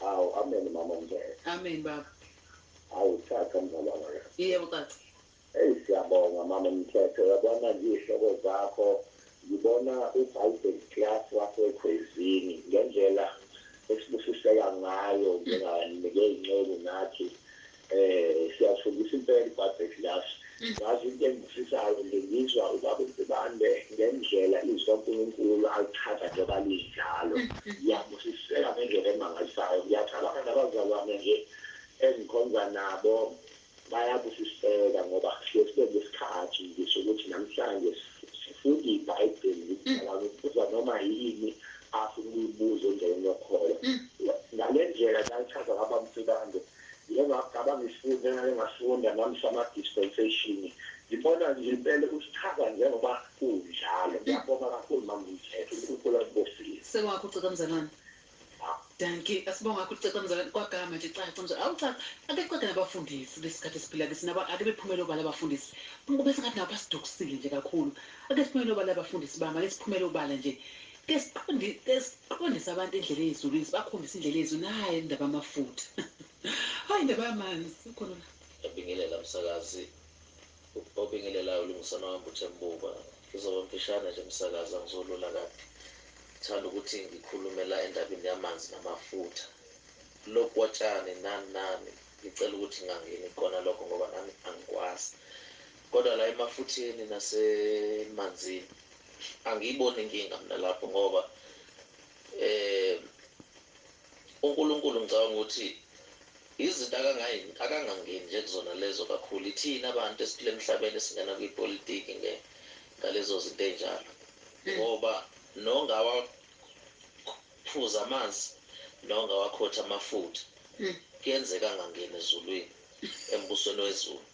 Hawu amen mama omngcwele. Amen baba. Hawu ucaca mzali wangakazi. Yebo ucaca. Eyi siyabonga mama Mthethwa uyabona nje izihloko zakho ngibona uBible class wasekhwezini ngendlela esibusiseka ngayo njengabanike inceku nathi Eh siyafundisa impela iBhayibheli Glass. Ngazi into engibusisayo nje ngizwa ubaba uNsibande ngendlela izwi kaNkulunkulu alichaza njengoba linjalo. Ngiyabusiseka ngendlela emangalisayo. Ngiyacabanga nabazalwane nje engikhonza nabo bayabusiseka ngoba siye sibe nesikhathi nje sokuthi namhlanje sifunda iBhayibheli ngimdala ngibuza noma yini afuna ukuyibuza endleleni yokholo. Ngalendlela nalichaza ngababa uNsibande Njengoba cabanga isifundo engake ngasifunda nami sama dispensation ngibona nje impela ukuthi chaza njengoba kunjalo ngiyabonga kakhulu mama Mthethwa uNkulunkulu akubusise. Sewakho ucaca mzalwane. Dankie asibonga kakhulu caca mzalwane kwagama nje caca mzalwane awu caca ake caca nabafundisi kulesikhathi esiphila kiso nabo ake bephumele obala abafundisi bese ngathi nabo basidukisile nje kakhulu ake siphumele obala abafundisi bami ake siphumele obala nje Ke siqondi ke siqondise abantu indlela eyezulwini sibakhombise indlela eyezulu nayi indaba yamafutha hayi indaba yamanzi ukhona la. Ngiyabingelela msakazi obingelelayo ulungisana wami uThembuba ngizoba mfishane nje msakazi angizolula kade thanda ukuthi ngikhulume la endabeni yamanzi namafutha lokotshani nani nani ngicela ukuthi ngangeni kona lokho ngoba nami angikwazi kodwa la emafutheni nasemanzini Angiyiboni inkinga mina lapho ngoba uNkulunkulu ngicabanga ukuthi izinto akangangeni nje kuzona lezo kakhulu. Ithina abantu esiphila emhlabeni esingena kwipolitiki ngalezo zinto ey'njalo ngoba nongawaphuzi amanzi nongawakhothi amafutha kuyenzeka angangeni ezulwini, embusweni wezulu.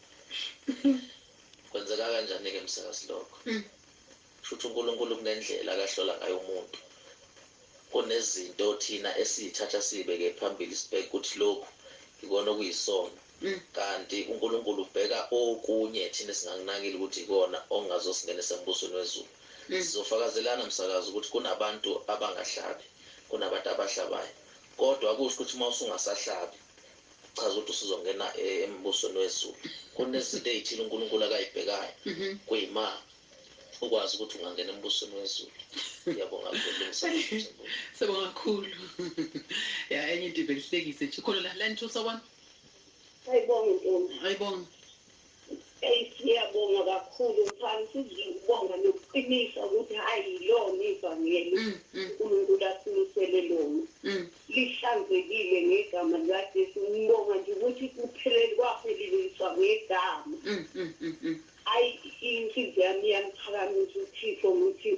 Kwenzeka kanjani ke msakazi lokho? Shuthi uNkulunkulu kunendlela akahlola ngayo umuntu. Kunezinto thina esizithatha sizibeke phambili sibheke ukuthi lokhu yikona okuyisono kanti uNkulunkulu ubheka okunye thina esingakunakile ukuthi yikona okungazosingenisa embusweni wezulu. Sizofakazelana msakazi ukuthi kunabantu abangahlabi kunabantu abahlabayo kodwa akusho ukuthi uma usungasahlabi Kuchaza ukuthi usuzongena embusweni wezulu. Kunezinto ezithile uNkulunkulu akayibhekayo. Kuyima ukwazi ukuthi ungangena embusweni wezulu. Ngiyabonga kulungisa umthimbulo. Siyabonga kakhulu. Ya enye into ivelishlekise nje. Khona la la nithusa kwami. Ayibonge ntombi. Ayibonge. Ey siyabonga kakhulu mfana sizwe ukubonga nokuqinisa ukuthi hayi yilona ivangeli mm, mm. uNkulunkulu asimisele lona mm. lihlanzekile ngegama likaJesu ngibonga nje ukuthi kuphelele kwapheleliswa ngegama ayi inhliziyo yami iyamuphakamisa uThixo ngithi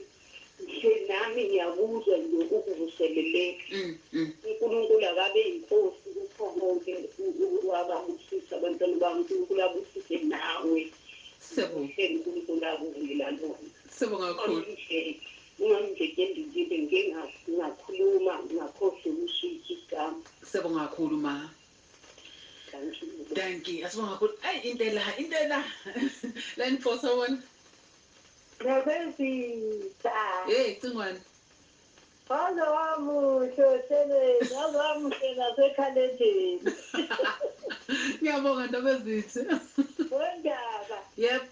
Ngisho nami ngiyakuzwa nje ukuvuseleleka. Mm, mm. UNkulunkulu akabe inkosi kukho konke wababusisa abantwana bami uNkulunkulu abusise nawe. Siyabonga. uNkulunkulu akuvuyela lona. Siyabonga kakhulu. Ungamjeke ndindile ngike ngakhuluma ngakhohlwa ukushintsha igama. Siyabonga kakhulu ma. Dankie. Asibonga kakhulu. Ayi impela impela. Lani Xhosa wona. Nabezitha. Hey cingwane. Waze wamuhle ohlelweni, waze wamuhle nasekhalendeni. Ngiyabonga Ndabezitha. Wendaba. Yep.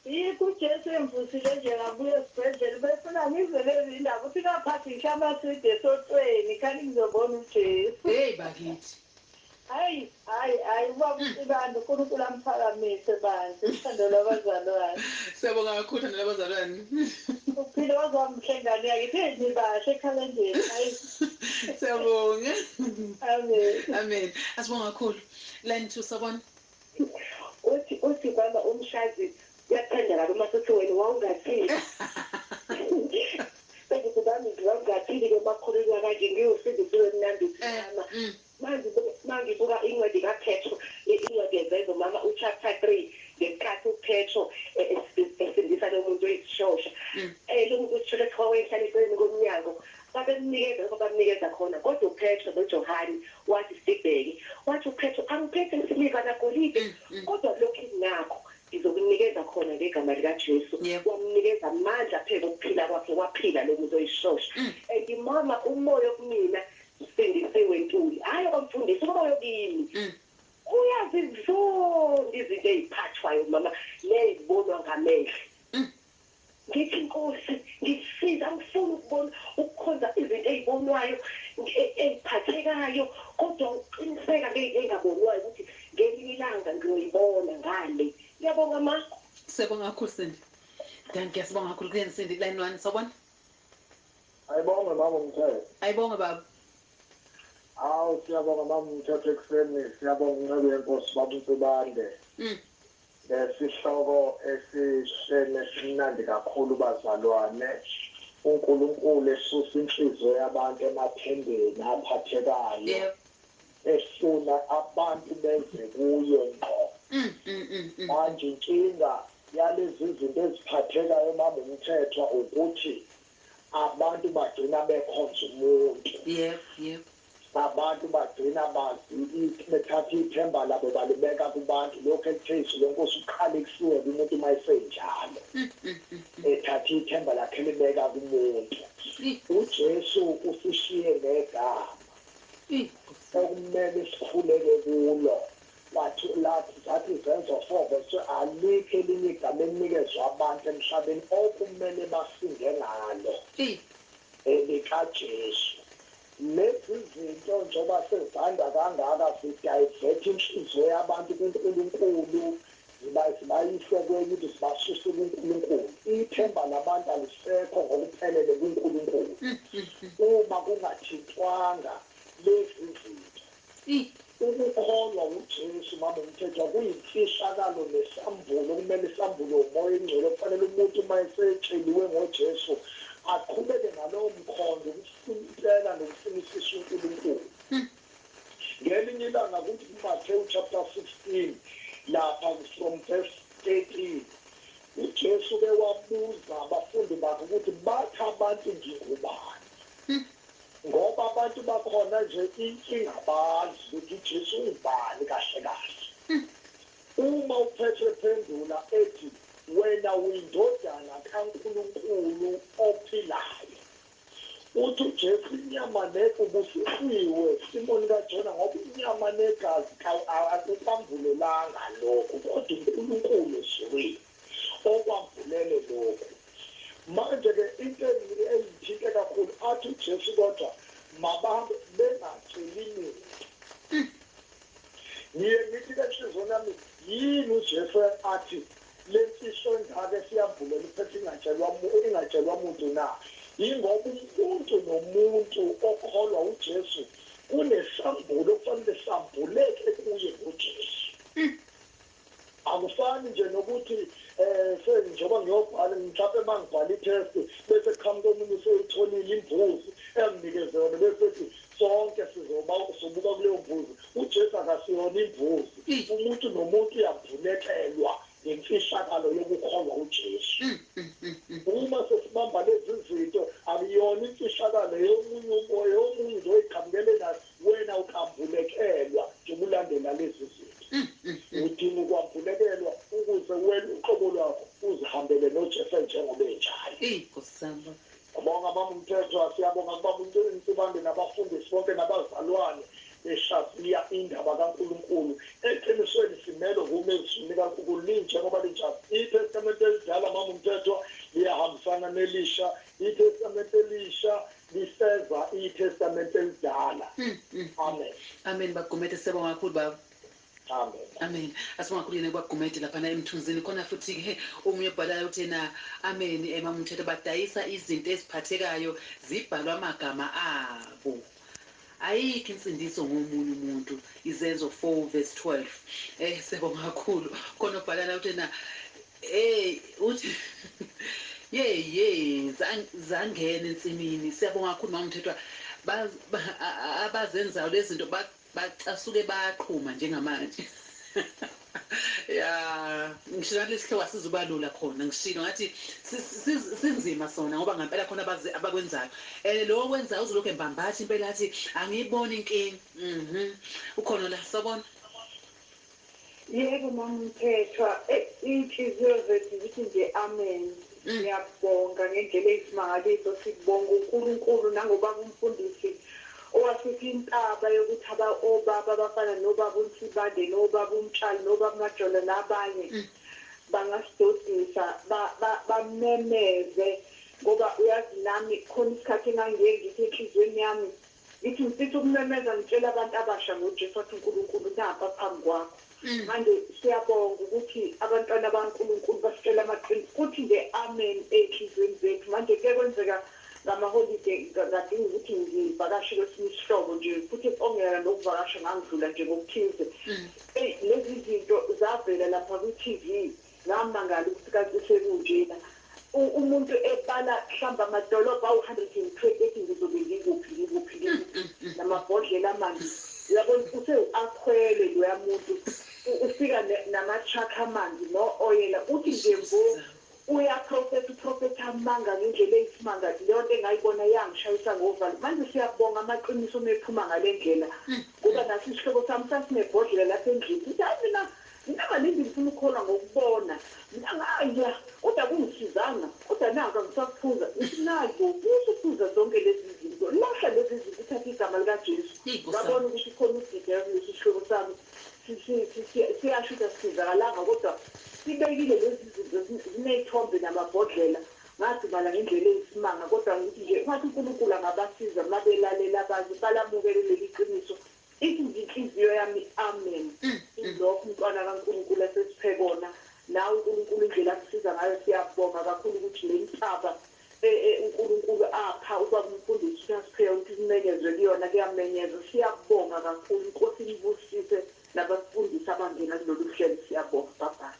Yikho uJesu engivusile nje ngabuya esibhedlela ubefuna ngizwe lezi ndaba uthi ngaphathi ngisha amaswidi esotweni khani ngizobona uJesu. Hey bakithi. Hayi hayi hayi ubaba uSibanda uNkulunkulu amphakamise bandla uthando lwabazalwane. Siyabonga kakhulu thando lwabazalwane. Uphile waze wamuhle ngane yakithi hey nibahle ekhalendeni hayi. Siyabonga. Amen. Amen. Asibonga kakhulu. Line 2 sabona. Uthi uthi mama umshazi uyakuthanda kabi uma suthi wena wawungathini. Sengizibambile wawungathini ke uma kukhulunywa kanje ngiwusindisiwe mnandi uthi mama. Manje bo uma ngibuka incwadi ka Petro, i incwadi yezenzo mama u chapter 3, ngesikhathi u Petro e e esindisa lo muntu oyisishosha, e lo muntu oyisishosha kuthiwa wayehlala eceleni komnyango, babemnikeza lokho abamnikeza khona, kodwa u Petro no Johane, wathi sibheke, wathi u Petro angiphethe siliva na golide, kodwa lokhu enginakho ngizokunikeza khona ngegama lika Jesu, wamnikeza amandla phezu kokuphila kwakhe, waphila lo muntu oyisishosha, and mama umoya okumina Sindisiwe Ntuli hayi okwamfundisi ukuba yokimi uyazizonda izinto eziphathwayo mama nezibonwa ngamehlo ngithi Nkosi ngisiza angifuni ukubona ukukhonza izinto ezibonwayo eziphathekayo kodwa ukuqiniseka ngezinto ezingabonwayo ukuthi ngelinye ilanga ngiyoyibona ngale ngiyabonga ma. Siyabonga kakhulu Sindi. Dankie sibonga kakhulu kuyeni Sindi line one sawubona. Ayibonge mama umthetho. Ayibonge baba. Hawu siyabonga mama umthetho ekuseni siyabonga inceku yenkosi baba uNtubande. Mm. Lesihloko esihle nesimnandi kakhulu bazalwane. UNkulunkulu esusa inhliziyo yabantu emathembeni aphathekayo. Yebo. esuna abantu beze kuye ngqo manje inkinga yalezizinto eziphathekayo mama uMthethwa ukuthi abantu bagcina bekhonza umuntu abantu bagcina bazi bethatha ithemba labo balibeka kubantu lokhu ekuthe izulu enkosi kuqale kufiwe kumuntu uma esenjalo ethatha ithemba lakhe elibeka kumuntu uJesu usishiye negama okumele sikhuleke kulo kwathi lathi zathi izenzo four verse 2 alikho elinye igama elinikezwe abantu emhlabeni okumele basinde ngalo elikaJesu lezizinto njengoba sezanda kangaka zi divert inhliziyo yabantu kuNkulunkulu Ziba zibayise kweny'into, zibasuse kuNkulunkulu. Ithemba labantu alisekho ngokuphelele kuNkulunkulu uma kungathintwanga lezizinto. Ukukholwa wuJesu, Mama uMthethwa, kuyimfihlakalo nesambulo okumele sambulwe uMoya oyiNgcwele. Okufanele umuntu uma esetsheliwe ngoJesu, aqhubeke nalowo mkhondo ukufuna impela nokufunisisa uNkulunkulu. Ngelinye ilanga kuthi kuMathewu chapter 16 lapha from verse 13 uJesu uke wabuza abafundi bakhe ukuthi bathi abantu ngingubani? Ngoba abantu bakhona nje inkinga abazi ukuthi uJesu ungubani kahle kahle. Uma uPetru ephendula ethi wena uyindodana kaNkulunkulu ophilayo. Uthi uJesu inyama ne ubusisiwe Simoni kaJona ngoba inyama negazi ka akukwambulelanga lokhu kodwa uNkulunkulu ezulwini okwambulele lokhu. Manje ke into engithinte kakhulu athi uJesu kodwa mabahambe bengatsheli muntu. Eish ngiye ngithi ke enhlizweni yami yini uJesu athi Lesi sondake siyamvulela uphetha ingatshelwa ingatshelwa muntu na? Yingoba umuntu nomuntu okholwa uJesu kunesambulo okufanele sambuleke kuye ngoJesu. Akufani nje nokuthi eh se njengoba ngiyobhala mhlampe mangibhala itest bese kuqhamuka omunye useyitholile imbuzi enginikeze yona bese ethi Sonke sizoba sobuka kuleyo mbuzi. UJesu akasiyona imbuzi. Umuntu nomuntu uyabhunekelwa ngemfihlakalo yokukholwa uJesu. Uma sesibamba lezi zinto, akuyona imfihlakalo eyomunye umo, eyomunye nje oyiqhamukele nayo, wena ukambulekelwa njengoba ulandela lezi zinto. Udinga ukwambulekelwa ukuze wena uqobo lwakho uzihambele noJesu enjengoba enjalo. Eyi Nkosi yami baba. Siyabonga baba Mthethwa, siyabonga kubaba uNcikini Sibande nabafundisi bonke nabazalwane behlaziya indaba kaNkulunkulu. Eqinisweni simelwe ukuma ezwini likaNkulunkulu linjengoba linjalo. ITestamente elidala mama uMthethwa liyahambisana nelisha, iTestamente elisha lifeza iTestamente elidala. Amen. Amen bab Gumede siyabonga kakhulu baba. Amen. Amen asingakuyena ubab Gumede laphana emthunzini khona futhi ke omunye obhalayo uthi yena Amen eh mama Mthethwa badayisa izinto eziphathekayo zibhalwe amagama abo ayikho insindiso ngomunye umuntu izenzo 4 verse 12 eh siyabonga kakhulu khona obhala la uthi yena eh uthi yey yey zangena ensimini siyabonga kakhulu mama Mthethwa abazenzayo lezinto Bacasuke bayaqhuma njengamanje ya ngisho nathi lesihloko asizuba lula khona ngishilo ngathi sinzima sona ngoba ngampela khona abazi abakwenzayo and lowo kwenzayo uzolokhu embambatha impela athi angiyiboni inkinga mhm ukhona la sabona Yebo mama Mthethwa, inhliziyo zethu zithi nje amen. Siyabonga ngendlela eyisimangaliso, sibonga uNkulunkulu nangobaba uMfundisi owasipha intaba yokuthi aba obaba abafana nobaba uNsibande nobaba uMtshali nobaba uMajola nabanye bangasidodisa ba, ba, bamemeze ngoba uyazi nami khona isikhathi engangiye ngithi enhliziyweni yami Ngithi ngifisa ukumemeza ngitshela abantu abasha ngoJesu wathi uNkulunkulu nampa phambi kwakho manje siyabonga ukuthi abantwana bakaNkulunkulu basitshela amaqiniso futhi nge Amen ezinhliziyweni zethu manje kuke kwenzeka ngamaholide ngadinga ukuthi ngivakashe kwesinye isihlobo nje futhi ongeyana nokuvakasha ngangidlula nje ngokuthize eyi lezizinto zavela lapha kwiTV Ngamangala ukuthi kanti sekunjena umuntu ebala mhlawumbe amadolobha awu-120 ethi ngizobe ngikuphi ngikuphi ngikuphi namabhodlela amanzi uyabona usewu-akhwele loya muntu ufika nama-truck amanzi no-oyela uthi nje mbo uyaprofetha uprofetha amanga ngendlela eyisimanga leyo nto engayibona yangishayisa ngovalo manje siyabonga amaqiniso uma ephuma ngale ndlela ngoba naso isihlobo sami sasinebhodlela lapha endlini sithi hayi mina Mina kaningi ngifuna ukukholwa ngokubona. Mina ngaya, kodwa akungisizanga. Kodwa naku, angisakuphuza. Ngithi, Naku, usuphuza zonke lezizinto. Lahla lezizinto, uthathe iGama likaJesu. Ngabona ukuthi ukhona udideka kulesi sihlobo sami. Si, si, si, si, siyasho ukuthi asisizakalanga, kodwa sibekile lezizinto, zi, zinezithombe namabhodlela. Ngadumala ngendlela eyisimanga, kodwa ngithi nje, ungathi uNkulunkulu angabasiza uma belalela abanye, balamukele leliQiniso. Ithi nje inhliziyo yami amen ilokh mntwana kaNkulunkulu esesiphekona nawe uNkulunkulu indlela akusiza ngayo siyabonga kakhulu ukuthi lentaba e e uNkulunkulu apha ubaba umfundisi uThah Spheyo ukuthi kumenyezwe kuyona kuyamenyezwa siyabonga kakhulu inkosi inibusise nabasifundisi abangena kuloluhlelo siyabonga bye bye.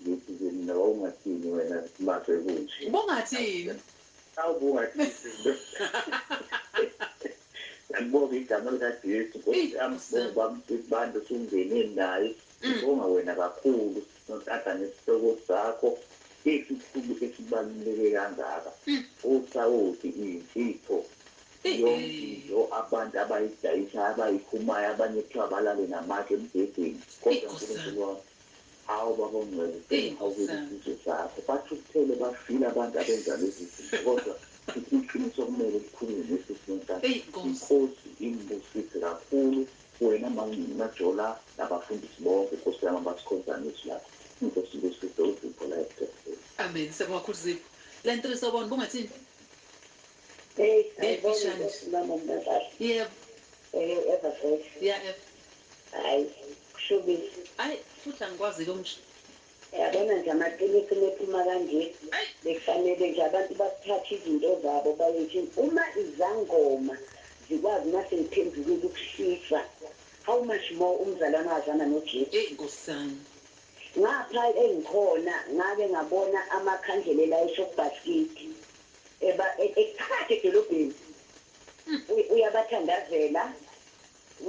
Ngithi kimi nawe ungathini wena mase kunje. Ubungathini? Awu ubungathini lo. Ngiyalibonga igama lika Jesu Nkosi yami sibonga uba msizi bandla usungene naye sibonga wena kakhulu nontanga nesihloko sakho esikhulu esibaluleke kangaka osawoti iyimfihlo yonke into abantu abayidayisayo abayikhumayo abanye kuthiwa balale namatshe embhedeni kodwa Nkulunkulu wami Hawu baba ongcebo siyabonga ukuzisizwe zakho but uthele bafile abantu abenza lezi zinto kodwa sisi iqiniso okumele likhulunywe nesisi wenkathi Eyi, Nkosi. inkosi imbusise kakhulu wena mangcini majola nabafundisi bonke nkosi yami abasikhonzayo ngezwi lakho inkosi imbusise uzipho la ebudepheni Amen. Siyabonga kakhulu Zipho. Line 3 sawubona, bungathini? Hey, Ngeke ayibonge ishanje. inkosi mama mnakahle. Yebo. Eyo ever fresh. Ya ever. Hayi kushubile. Ay futhi angikwazike ukusho. Yabona nje amaqiniso mephuma kanje bekufanele nje abantu bathathe izinto zabo bayothi uma izangoma zikwazi mase ngiphendukile ukushisa how much more umzalwane owazana no Jesu. Ey nkosi yami. Ngapha engikhona ngake ngabona amakhandlelela eShop Bhasikidi eba ephakathi edolobheni uyabathandazela.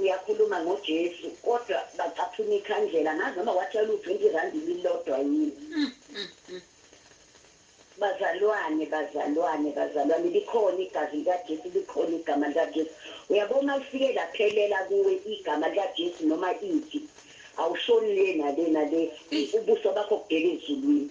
Uyakhuluma ngo Jesu kodwa bacaphuna ikhandlela angazi noma watshayela u 20 rand ililodwa yini bazalwane bazalwane bazalwane likhona igazi lika Jesu likhona igama lika Jesu uyabo uma lifike laphelela kuwe igama lika Jesu noma ithi awushoni le nale nale ubuso bakho kubheke ezulwini.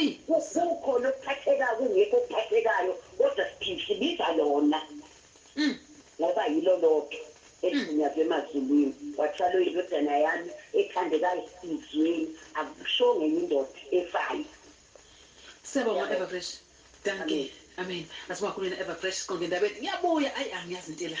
Eyi kukhona okuphathekayo kungekho okuphathekayo kodwa sibiza lona ngoba yilo lodwa eligunyazwe emazulwini kwathiwa lo indodana yami ethandekayo izweni akushongo enye indoda efayo. Syabonga Everfresh dankie. Amen asibonge kakhulu wena Everfresh siqonde endabeni ngiyabuya ayi angiyazi into ela.